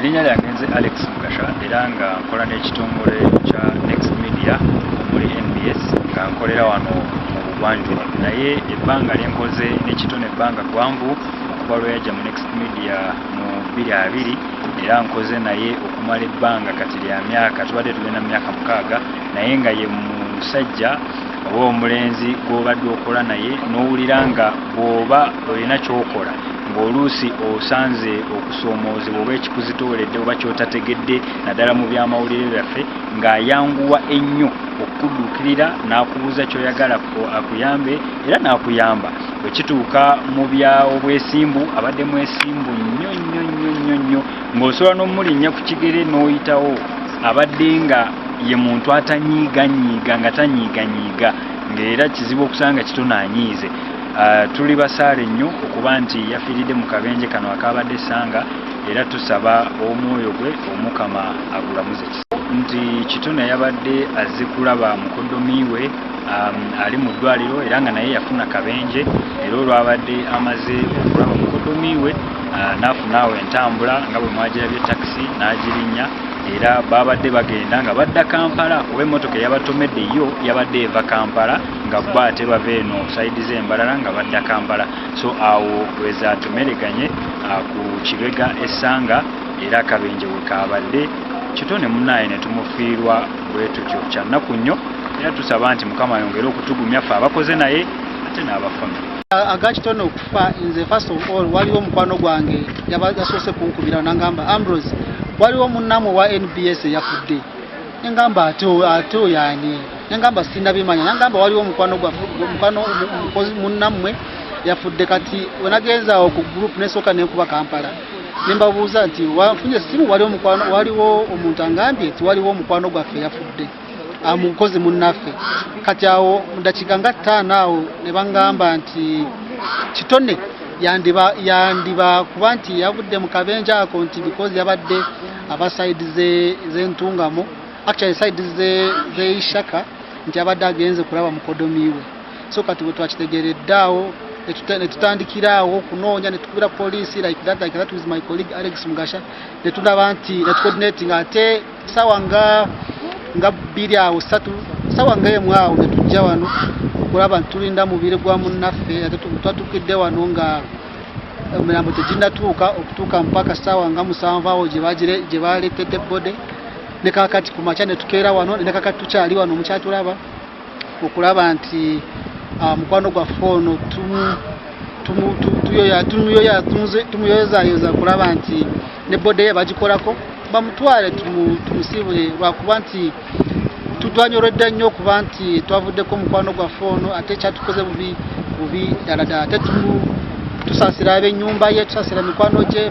erinnya lyange nze alex mukasha era nga nkola n'ekitongole kya next media omuli nbs nga nkolera wano mu bugwanjuba naye ebbanga lyenkoze nekitone ebbanga gwanvu okuva lweyajja mu next media mu bbiri abiri era nkoze naye okumala ebbanga kati lya myaka tubadde tugenda mu myaka mukaaga naye nga ye musajja oba omulenzi gw'obadde okola naye n'owulira nga bw'oba olina ky'okola ng'oluusi osanze okusoomoozebwa oba ekikuzitooledde oba ky'otategedde naddala mu byamawulire byaffe ng'ayanguwa ennyo okukuduukirira n'akubuuza ky'oyagala akuyambe era n'akuyamba bwe kituuka mu bya obwesimbu abadde mwesimbu nnyo nnyo nnyo nnyo nnyo ng'osobola n'omulinnya ku kigere n'oyitawo abadde nga ye muntu atanyiiganyiiga nga tanyiiganyiiga ng'era kizibu okusanga kitono anyiize ah, tuli basaale nnyo okuba nti yafiiridde mu kabenje kano akaabadde essanga era tusaba omwoyo gwe omukama agulamuze nti kitona yabadde azze kulaba mukoddomi we um, ali mu ddwaliro era nga naye yafuna kabenje era olwabadde amaze okulaba mukodomi we uh, n'afunaawo entambula nga bwe mwagirabye takisi n'agirinya era babadde bagenda nga badda kampala oba emmotoka eyabatomedde yo yabadde eva kampala nga bo ate bava eno saidi z'embalala nga badda kampala so awo wezatomereganye uh, ku kibega essanga era akabenje wekaabadde kitone munaaye ne tumufiirwa bwetutyo kyannaku nnyo era tusaba nti mukama ayongere okutugumya ffe abakoze naye ate n'abafami agakitone okufa nze first of all waliwo omukwano gwange yasoose kunkubira nangamba ambrose waliwo munnamu owa nbs eyafudde nengamba ate ate oyani nengamba sindabimanya nangamba waliwo omukwano gwamukwano munnammwe yafudde kati wenagenza awo ku group nesooka nenkuba kampala nembabuuza nti wanfunye essimu waliwo omukwano waliwo omuntu angambye nti waliwo omukwano gwaffe yafudde amukozi munnaffe kati awo mudakiika nga ttaano awo ne bangamba nti kitone yandiba yandiba kuba nti yavudde mu kabenja ako nti because yabadde aba side z'entungamo actually side z'eishaka nti abadde agenze kulaba mukodomiiwe so kati bwe twakitegeredde awo netutandikira awo okunoonya netukubira poliisi like that like that with my colleague Alex Mugasha netundaba nti netucoordinating ate sawa nga nga bbiri awo satu sawa nga emu awo netujja wano kulaba ntulinda mubiri gwa munnaffe ate twatukidde wano nga emirambo teginatuuka okutuuka mpaka sawa nga musanvu awo gye baleetedde bode nekakati ku makya netukeera wano nekakati tukyali wano mukyatulaba okulaba nti ah, mukwano gwaffe ono tumuyozayoza kulaba nti ne bode ye bagikolako bamutwale tumusiibule lwakuba nti tutwanyoredde nnyo okuba nti twavuddeko omukwano gwaffe ono ate kyatukoze bubi bubi ddala ddala ate tusaasira ab'ennyumba ye tusaasira mikwano gye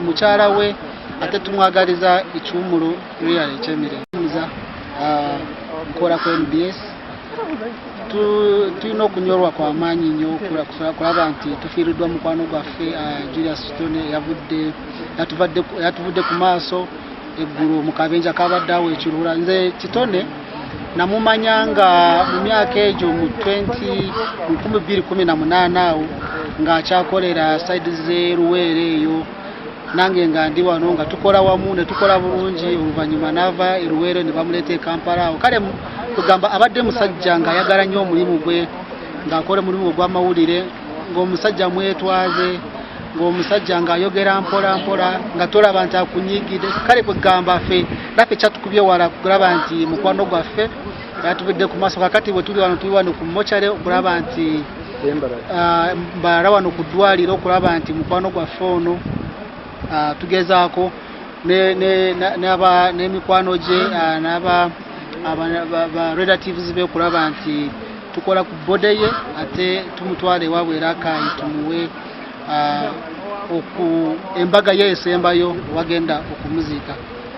mukyala we ate tumwagaliza ekiwumulo Real Chemire muza ah, nkola ku MBS tulina okunyolwa kwa maanyi nnyo kulaba nti tufiiriddwa mukwano gwaffe ah, Julius Stone yavudde yatuvudde ku maaso eggulu mu kabenja kabadde awo ekiruula nze kitone namumanya nga mu myaka egyo mu 2018 awo ng'akyakolera saidi z'eruweere eyo nange nga ndi wano nga tukola wamu ne tukola bulungi oluvannyuma n'ava eruweere ne bamuleeta e kampala awo kale kugamba abadde musajja ng'ayagala nnyo omulimu gwe ng'akola omulimu ogw'amawulire ng'omusajja mwetwaze ng'omusajja ng'ayogera mpola mpola nga tolaba nti akunyigide kale kwegamba ffe naffe kyatukubye wala kulaba nti mukwano gwaffe yatubidde ku maaso kakati bwe tuli wano tuli wano ku mochare okulaba nti ah, mbala wano ku ddwaliro okulaba nti mukwano gwaffe ono ah, tugezaako n'emikwano gye ah, naba relatives be okulaba nti tukola ku bode ye ate tumutwala ewaabwe era akayi tumuwe oku embaga ye esembayo wagenda okumuziika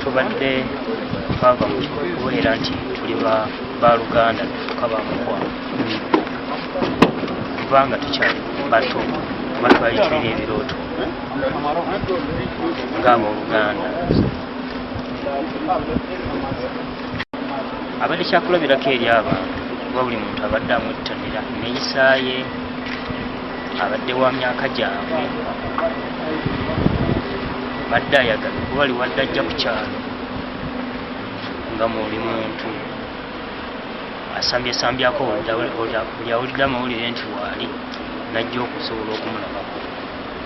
tubadde twava mu kubeera nti tuli baluganda tufuka bamukwano kubanga tukyali bato kuba twali tulina ebirooto ngaabooluganda abadde kyakulabirako eri abantu kuba buli muntu abadde amwettanira neyisaaye abadde wa myaka gyabwe badde ayagala kuba liwadde ajja ku kyalo nga muli muntu asambyesambyaako buli awulidde amawulire nti waali najja okusobola okumulabako